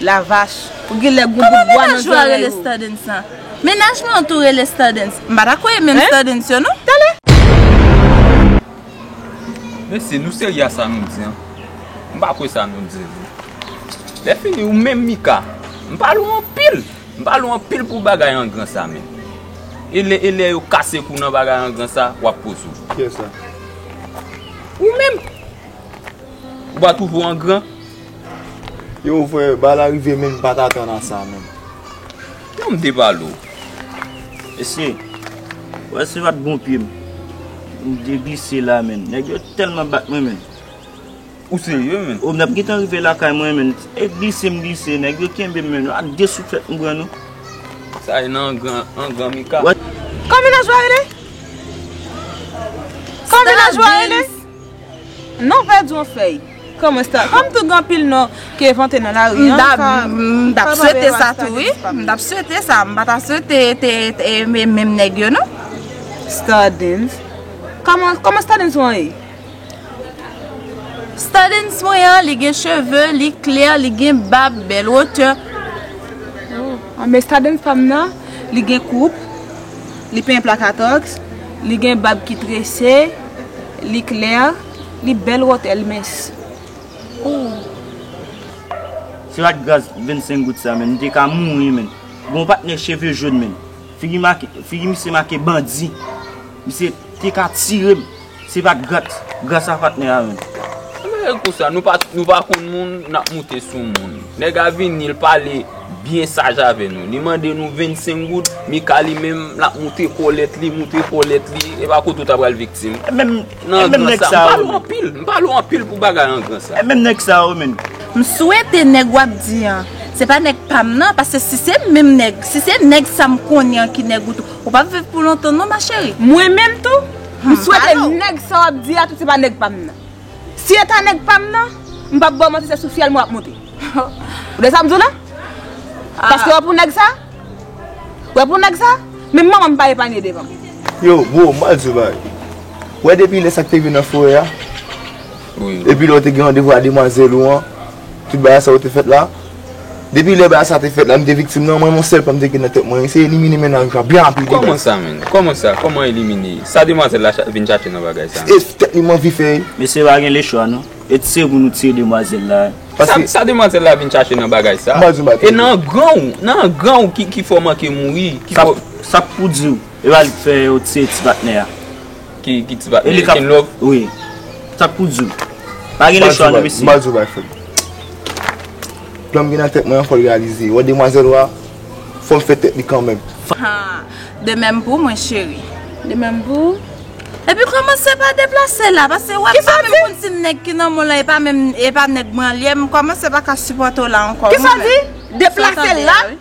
La vach, ou gen lè gon bout bwa nan zorèy ou. Kòman menaj ou a rele Stardens lan? Menaj mwen an tou rele Stardens. M pa ta kwè e menm Stardens yo non. Talè! Mesye, nou serye a sa nou di an? M pa kwè sa nou di yo. Lè fini ou menm Mika, m pale ou anpil. M pale ou anpil pou bagay angran sa men. E lè e lè yo kase kou nan bagay angran sa, w ap poze ou. Kiyès la? Ou menm! Ou pa twouve ou angran? Yo vwe ba la rive menm pa ta tan nan sa menm. Yon m te pale w. Mesye, wè se pat bon pye m. M te glise la menn. Nèg yo tèlman bat mwen menn. Ou serye menn? O m tap gentan rive lakay mwen menn. E glise m glise. Nèg yo kenbe m menn. A 2 souflèt m pran non. Sa e nan angan Mika. Kòm vilajwa rele? Kòm vilajwa rele? Non pa di yon fèy. Kòman sa? Kòm tou gen anpil non ki envante nan lari an. M tap swete sa tou wi. M tap swete sa. M pa ta swete te e menm nèg yo non. Stardens. Kòman Stardens ou an ye? Stardens mwen an li gen cheve, li klè, li gen bab, bèl wotè. An men Stardens pa m nan li gen koup, li penyen plakatoks, li gen bab ki trese. Li klè, li bèl wòtèl mens. Si pat gras 25 goud sa menn, m te ka mouri menn. Gon patnè cheve jòn menn. Figi make, figi misye make bandi. Misye te ka tire m, si pat grat, gras a patnè a menn. Anbyen e kou sa, nou pa konn moun, n ap moute sou moun. Nèg a vini, l pale. Byen saj avè nou. Li mande nou 25 goud, Mika li menm, l ap moute kòlèt li, moute kòlèt li. E pa kote w ta pral viktim. E menm nèg sa yo menm. M pale w anpil pou bagay angran sa. E menm nèg sa yo menm. M swete nèg w ap di an, se pa nèg pa m nan, paske si se menm nèg, si se nèg sa m konnen an ki nèg ou tou, ou p ap viv pou lontan non ma chérie. Mwen menm tou, m swete nèg sa w ap di a tou se pa nèg pa m nan. Si e ta nèg pam nan, m pap baw manti se sou fyèl mwen wap monte. Ou tande sa m di w la? Paske wè pou nèg sa? Wè pou nèg sa? Menm manman m pa epanye devan m. Yo bro, m pral di w yon bagay. Ou wè depi lè sa k te rive nan forè a? Epi lè ou te gen randevou a demwazèl ou an, tout bagay sa yo te fèt la? Depi lè bagay sa te fèt la m te viktim nan mwen yon sèl plan m te gen nan tèt mwen se elimine mennaj la byen rapid. Kòman sa menn? Kòman sa? Kòman elimine? Sa demwazèl la vin chache nan bagay sa? Se tèt li m anvi fè. Mesye pa gen lechwa non. E t se pou nou tiye demwazèl la a? Sa demwazèl la vin chache nan bagay sa? E nan gran ou? Nan gran ou ki fè w manke mouri? Sa pou di w? E pa li k fè yo tiye ti patnè a? ki ti bat men ken lòk. Wi. Sa pou di w. Pa gen lechwa non mesye. M pa di w bay fèt. Plan m gen nan tèt mwen an fò l reyalize. Wè demwazèl ou a, fò m fè tèt li kanmèm. Haa. De menm pou mwen cheri. De menm pou ou. Epi kòmanse pa deplase la. Pase wè m pa menm konn si nèg ki nan mwen lan e pa nèg mwen an li ye. M kòmanse pa ka sipòte w la ankò. Kisa di? Deplase la?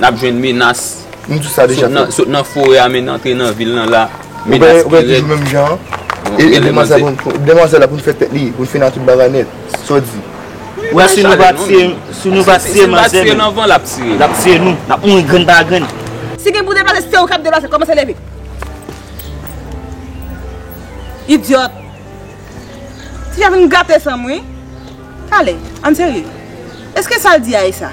N ap jwenn menas sot nan forè a menn antre nan vil nan la. Menas ki rèd. Ou menm jan. E demwazèl la pou n fè tèt li, pou n fina tout bagay nèt. Sa w di? Ou wè si nou pa tiye manzè menm. Si nou pa tiye manzè menm. L ap tiye nou. L ap tiye nou. N ap mouri grenn pa grenn. Si gen pou deplase se ou k ap deplase. Kòmanse leve. Idyòt. Ti a vin gate san m wi. Ale. An n serye. Eske sa l di a e sa?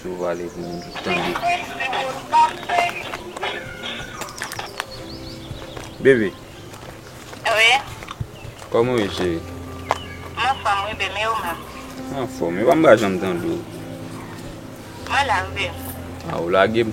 Sou vale pou moun tout tande. Bebe. Wi. Koman ou ye cheri? Mwen anfom wi bebe e ou menm? Mwen anfom. Epa m pa janm tande w. Mwen la wi bebe. A ou lage m.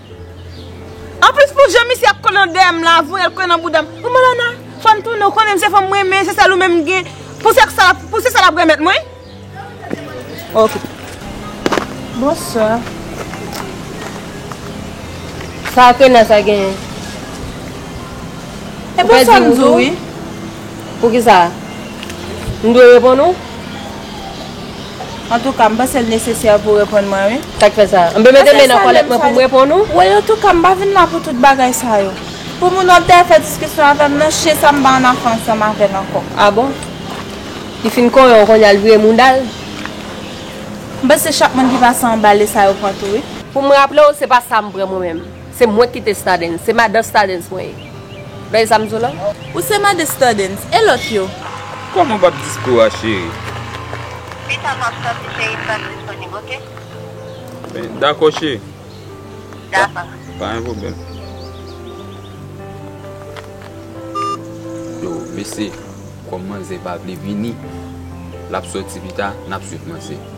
Anplis pou jan misye ap konnen dèyè m la voyel konnen nan boudam oh Malana fòm tounen ou konnen m se fanm m renmen se sèl ou menm m gen pou se sa pou se sa lap remèt mwen ok Bonsoir Sa kena sa genyen E bonsoir m di w wi Poukisa m dwe reponn ou. Antouka, m panse l nesesè pou w reponn mwen wi. Sa k fè sa? M pe mete men nan kòlèt mwen pou m reponn ou? Woy antouka, m pa vin la pou tout bagay sa yo. Pou moun ap dèyè fè diskisyon avè m nan, chyen sa m pa annafè ansanm avè l ankò. A bon? Li fin konyen w kounya l vire mouda l? M panse chak moun ki pase anba le sa yo pran tou wi. Pou m raple w, se pa sa m pran mwen menm. Se mwen ki te stadens. Se madan stadens mwen ye. Bèy zam zola. Ou se madan stadens. E lòt yo? Kòman bab disco a cheri? Pita map soti cheri m pral disponib ok. Dakò cheri. Dakò. Pa gen pwoblèm. Yo mesye. Kòm manzè pa vle vini. Lap soti pita. Nap swiv manzè.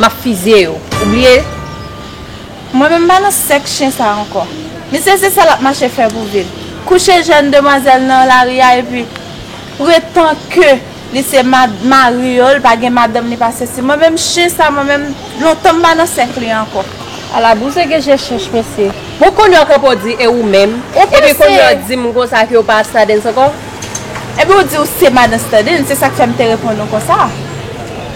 Map fizye yo ou bliye. Mwen menm pa nan sèk chen sa ankò. Misye se sa lap mache fè pou vil. Kouche jèn demwazèl nan lari a epi pretan ke li se mari yo li pa gen madanm li pa sesi. Mwen menm chen sa mwen menm lontan m pa nan sèk li ankò. Ala bouzen gen je chèch mesye. Bon kounye w kanpe w di e ou menm? Epi kounye w di m konsa ke w pa Stadens ankò? Epi w di w se madan Stadens se sak fè m te reponn ou konsa.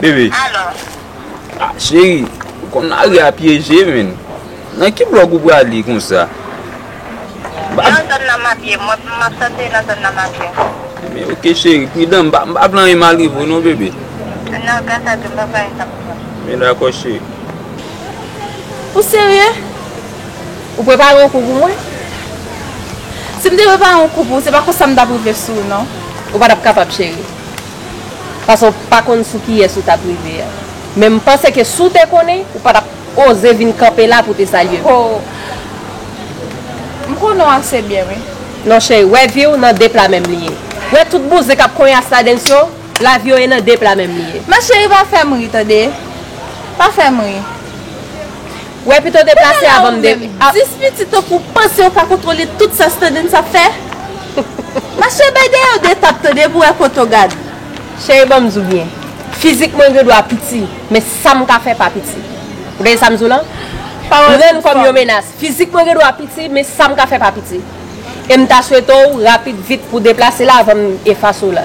Bebe Cheri ou konn lari a pyeje menn Nan ki blòk ou prale konsa Nan zòn nan map ye Mwen pou map sòti nan zòn nan map ye Ebyen ok cheri pridan M pa vle anyen mal rive w non bebe Nan gras a Dye m pap gen anyen kap rive m Ebyen dakò cheri Ou serye? Ou prepare yon kou pou mwen? Si m te prepare yon kou pou ou, se pa konsa m t ap rive sou ou non. Ou pa t ap kapab cheri. Paske w pa konn sou kiyès ou t ap rive a. Men m panse ke si w te konnen, ou pa t ap oze vin kanpe la pou w te salye m. Ho! M konnen w ase byen wi. Non cheri, wè vi w nan de pla menm li ye. Wè tout bouzen k ap konyas ladenn s yo, lavi yo e nan de pla menm li ye. Ma cheri pa fè m ri tande. Pa fè m ri. Wè pito w deplase avan m de. Gade la ou menm, 10 pitit tankou w panse ou ka kontwole tout sa Standens ap fè? Mache bay dèyè w 2 tap tande pou wè kote w gad. Cheri banm di w byen, fizik mwen gendwa piti, men sa m ka fè pa piti. Ou tande sa m di w lan? Pawòl san fòm. Pran l kòm yon menas. Fizik mwen gendwa piti, men sa m ka fè pa piti. E m ta swete w rapid vit pou w deplase la avan m efase w la.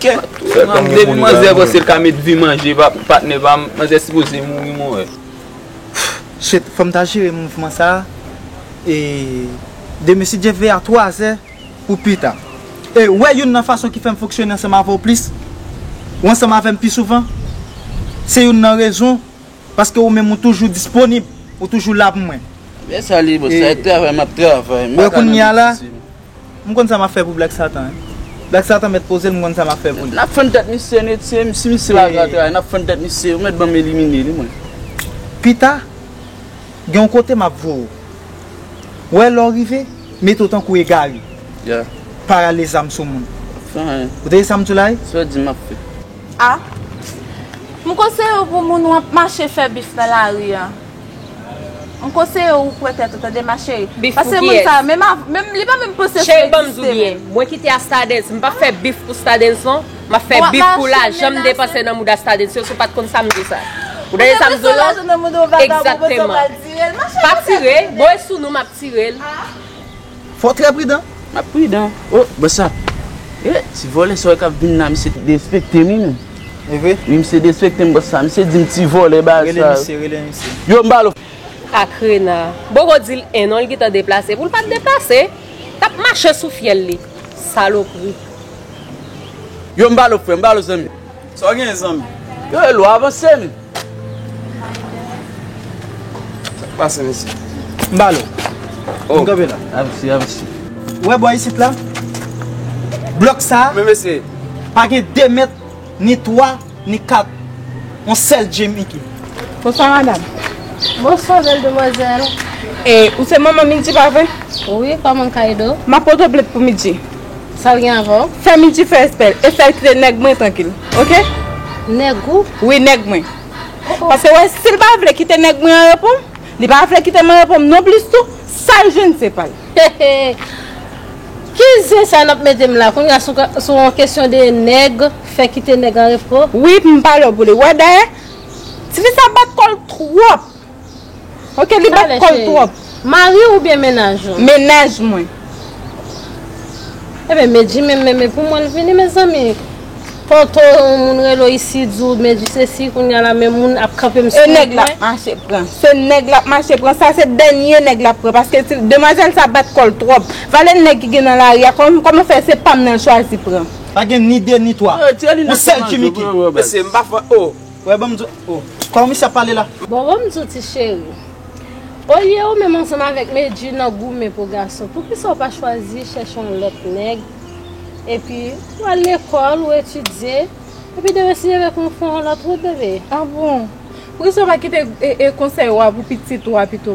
Kè kòm gen pou manzè bon sil ka met vi manje patnè pam manzè sipoze mouri mwen wè. Shit fòm ta jere mouvman sa e de mesye Jeff veye a 3 zè pou pita e wè youn nan fason ki fèm fonksyone ansanm avèw plis ou ansanm avèm pi souvan se youn nan rezon paske ou menm ou toujou disponib ou toujou la pou mwen. Mwen salye boo sa e travay map travay. Wè kounya la M konn sa map fè pou black satan. Black satan mèt pozel m konn sa map fè pou li. Nap fann tèt misye net se si misye la gran tray nap fann tèt misye ou mèt banm elimine li mwen. Pita gen yon kote map voye w wè lè w rive mete w tankou egare pa rale zam sou moun ou tande sam di w la wi. A, M konseye w pou moun wap mache fè bif nan lari an. M konseye w kwè tèt ou tande ma cheri. Bif pou kiyès? Cheri banm di w byen mwen kite a stadens m pap fè bif pou stadens non map fè bif pou lajan m depanse nan mouda stadens yo si w pat konn sa m di w sa ou tande sa m di w la egzakteman pa tire bon e sou nou map tire l. Fò w trè pridan. M ap pridan. O! Bsap! E! Ti vòlè sa w wè k ap vin la misye derespekte m wi menm. E vre? Wi misye derespekte m bsap. Misye di m ti vòlè bagay sa yo. Rele misye, rele misye. Yo m ba l. Ak rena. Boko di l en non l gentan deplase. Pou l pa t deplase, t ap mache sou fyèl li. Salopri. Yo m ba l frè m ba l zanmi. Sa w genyen zanmi? Yo e lwa avanse m. Sa k pase mesye? M ba l ou. M kanpe la. A mesi, a mesi. Ou wè bò isit la? Blòk sa a. Men mesye. Pa gen 2 mèt, ni 3, ni 4. Yon sèl Djimi ki. Bonswa madam. Bonswa bèl demwazèl. E ou se manman Mindy pa vre? Wi, kòman m ka ede w? M ap pote w plent pou Mindy. Sal gen avan w. Fè minti fè espèl e fèl kite nèg mwen trankil ok. Nèg ou? Wi nèg mwen. Paske wè si l pa vle kite nèg mwen anrepo li pa vle kite m anrepo m nonplis tou sa l jwenn se pa l. Heheh ki zen sa nap mete m la kounya sou yon kesyon de nèg fè kite nèg anrepo. Wi m pale w pou li wè dayè tifi sa bat kò l twòp. Ok li bat kòl twòp. Mariw oubyen mennaj ou? Mennaj mwen. Ebyen Medjy menm menm epou mwen l vini mezanmi Tanto yon moun relew isi diw Medjy sesi kounya la men moun ap kanpe m sou wout mwen. E nèg lap mache pran. Se nèg lap mache pran sa se dènye nèg lap pran paske demwazèl sa bat kòl twòp. Valè nèg ki gen nan lari a kòman fè se pam nan l chwazi pran. Pa gen ni 2 ni 3. Ou sèl tchimiki. Mesye m pa fon oh. Wè banm di w oh. Kòman misye ap pale la. Bon banm di w ti cheri. Olye ou menm ansanm avèk Medjy nan goumen pou gason poukisa ou pa chwazi chèche yon lòt nèg epi ou al lekòl ou etidye epi demen si Dye vle konn ou fè yon lòt wout bebe. Ah bon. Poukisa ou pa kite konsèy ou a pou pitit ou a pito.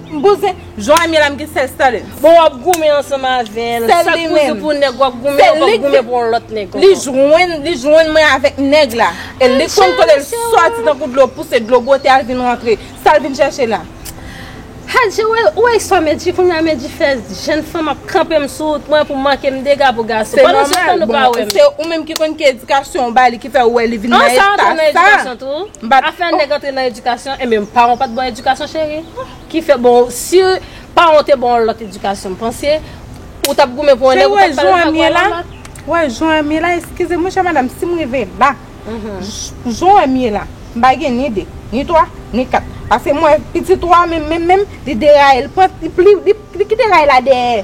M bouzen Jan eme la m gen sel Sterlens. Bon wap goumen ansanm avèl. Sèl li menm. Chak pou nèg wap goumen ou pap goumen pou yon lòt nèg ankò. Li jwenn li jwenn mwen avèk nèg la. E li konn kote l sòti tankou dlo pouse dlo bwote al vin rantre. Sal vin chèche la. Hadjee ou wè ou wè istwa Medjy kounya Medjy fè jèn fanm ap kanpe m sou wout mwen pou manke m dega pou gason. Se nòmal bon se ou menm ki konn ki edikasyon ou ba li ki fè ou wè li vin nan eta sa. M pa ka fè nèg antre nan edikasyon enben paran w pa t ba w edikasyon cheri ki fè bon si paran w te ba w yon lòt edikasyon m panse ou t ap goumen pou yon nèg ou pa t pral vag wè yon lòt. Wè jan an m ye la eskize m wi chè madam si m rive la jan an m ye la m pa gen ni de ni twa ni kat pase m wè pitit ou a menm menm menm li deraye li pran li kite ray la dèyè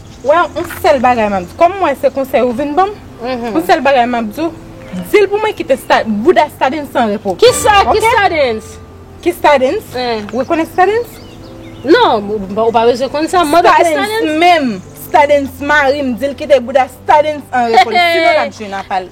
Wè on sèl bagay map di, kòm m wè se konsèy ou vin banm, on sèl bagay map di w, dil pou mwen kite bouda stadens an repo. Kisa ki stadens? Ki stadens? Ou konnen stadens? Non, ou pa bezwen konn sa, mande ki stadens? Stadens menm, stadens marim, dil kite bouda stadens an repo, sinon lap jwenn apal.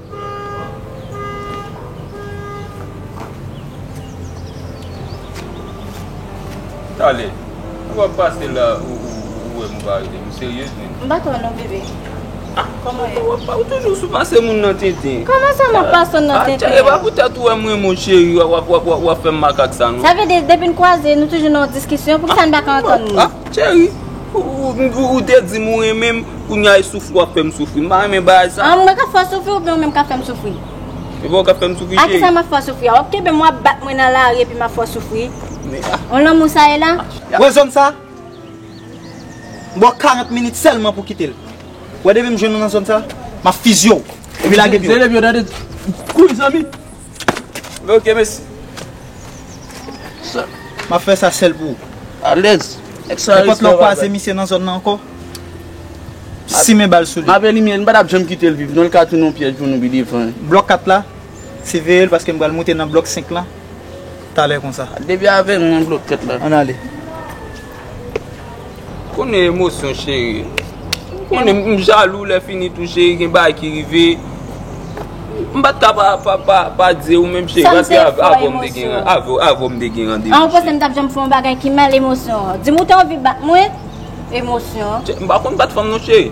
Tale, ou wap pase la ou wè mou pa rete, ou serye zni? M pa t wè non bebe. Kòman ye? Ou toujou sou pase moun nan tenten. Kòman sa map pase w nan tenten? E pa poutèt ou wè m renmen w cheri wap fè m makak sa non. Sa vle di depi n kwaze nou toujou nan yon diskisyon, poukisa n pa ka antann nou? Cheri, ou te di m ou renmen m, Kounya e soufri wap fèm soufri. M pa renmen bagay sa. An mwen kap fè w soufri oubyen ou menm kap fèm soufri? Se pa ou kap fèm soufri cheri. A kisa map fè w soufri a? Wap kenbe m wap bat mwen nan lari epi map fè w soufri? On lanmou sa ye la? Wè zòn sa? M ba w 40 minit sèlman pou kite l. Wè depi m jwenn ou nan zòn sa, map fizye w epi lage pye w. Zelebi yo tande. Kouri zanmi. Ok mesi. Map fe sa sel pou ou. Alez. Nenpot lè ou kwaze misye nan zon nan anko. Simen bal sou li. Map elimine li. M pa tap janm kite l viv non. Li ka tounen yon pyèj pou nou pi devan. Blok 4 la. Siveye l paske m pral moute nan blok 5 lan. Talè konsa. Depi avè nou nan blòk tèt la. Ann ale. M konnen emosyon cheri. M konnen m jalou lè fini tou cheri gen bagay ki rive. M pat ka pa di ou menm cheri paske avè m te gen randevou. Avè m te gen randevou. An ou panse m tap janm fè yon bagay ki mal emosyon. Di m ou te anvi bat mwen? Emosyon. M pa konn bat fanm non cheri.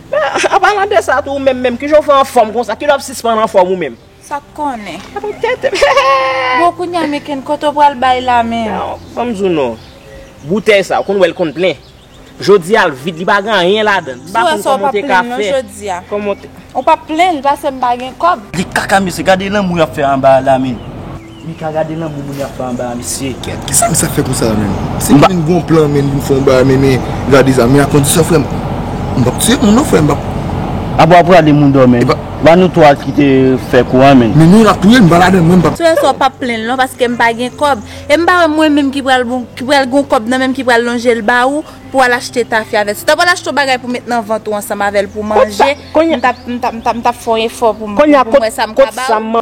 Men, an palan de sa tou, ou menm menm, ki jan ou fè anfòm konsa? Kilè w ap sispann anfòm ou menm? Sa k konnen? Sa pa tèt m. Bon, kounye a Meken, kote w pral bay la menm? Ban m di w non. Boutèy sa, ou konn wè l konn plen. Jodi a l vid, li pa gen anyen ladan l. M pa konn kòman w te ka fè. Si w wè sa, w p ap plen l non jodi a. Kòman w te. Ou p ap plen l, pase m pa gen kòb. Li kaka mesye, gade lanmou y ap fè anba a la menm. Mika gade lanmou moun ap fè anba a mesye. Kèt kisa misa fè konsa la menm. Se pou vin gon plan menn vin fon bagay menm gade sa men a kondisyon frèm mpap tiye moun non frèm mpap. Abo wap rale moun dò menm. Epa nou 3 kite fè kou an menn. Men nou nap touyem mpa ladann mwen mpap. Tresor pap plenl non paske mpa gen kob e mpa wè mwen menm ki pral bon ki pral gon kob nan menm ki pral lonjel ba ou pou al achte tafya avèl si w ta pral achte yon bagay pou met nan vant ou ansanm avèl pou manje mtap mtap mtap fè yon efò pou mwen sa mka ba ou.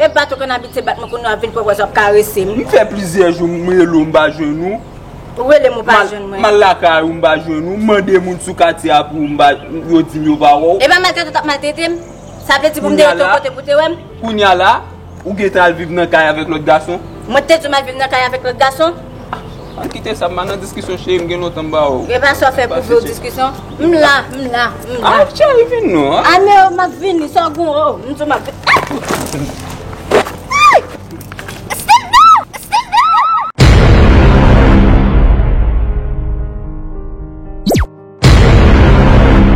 E bat ou konn abitye bat mwen kounye a wap vin pran pòz wap karese m. M fè plizyè jou m rele w m pa jwenn ou. Ou rele m ou pa jwenn mwen. M al lakay ou m pa jwenn ou. M mande moun sou katye a pou ou m pa yo di m yo pa wè w. Epa maltrete ou tap maltrete m. Sa vle di pou m te rete yon kote pou te wè m. Kounya la ou gentan al viv nan kay avèk lòt gason. Mwen te di w m al viv nan kay avèk lòt gason? An kite sa, m pa nan diskisyon cheri m gen lontan m ba ou. Epa sa w fè pou vle diskisyon? M la, m la, m la. An cheri vin non an. An e o m ap vini sa w gen w o m di m ap vini.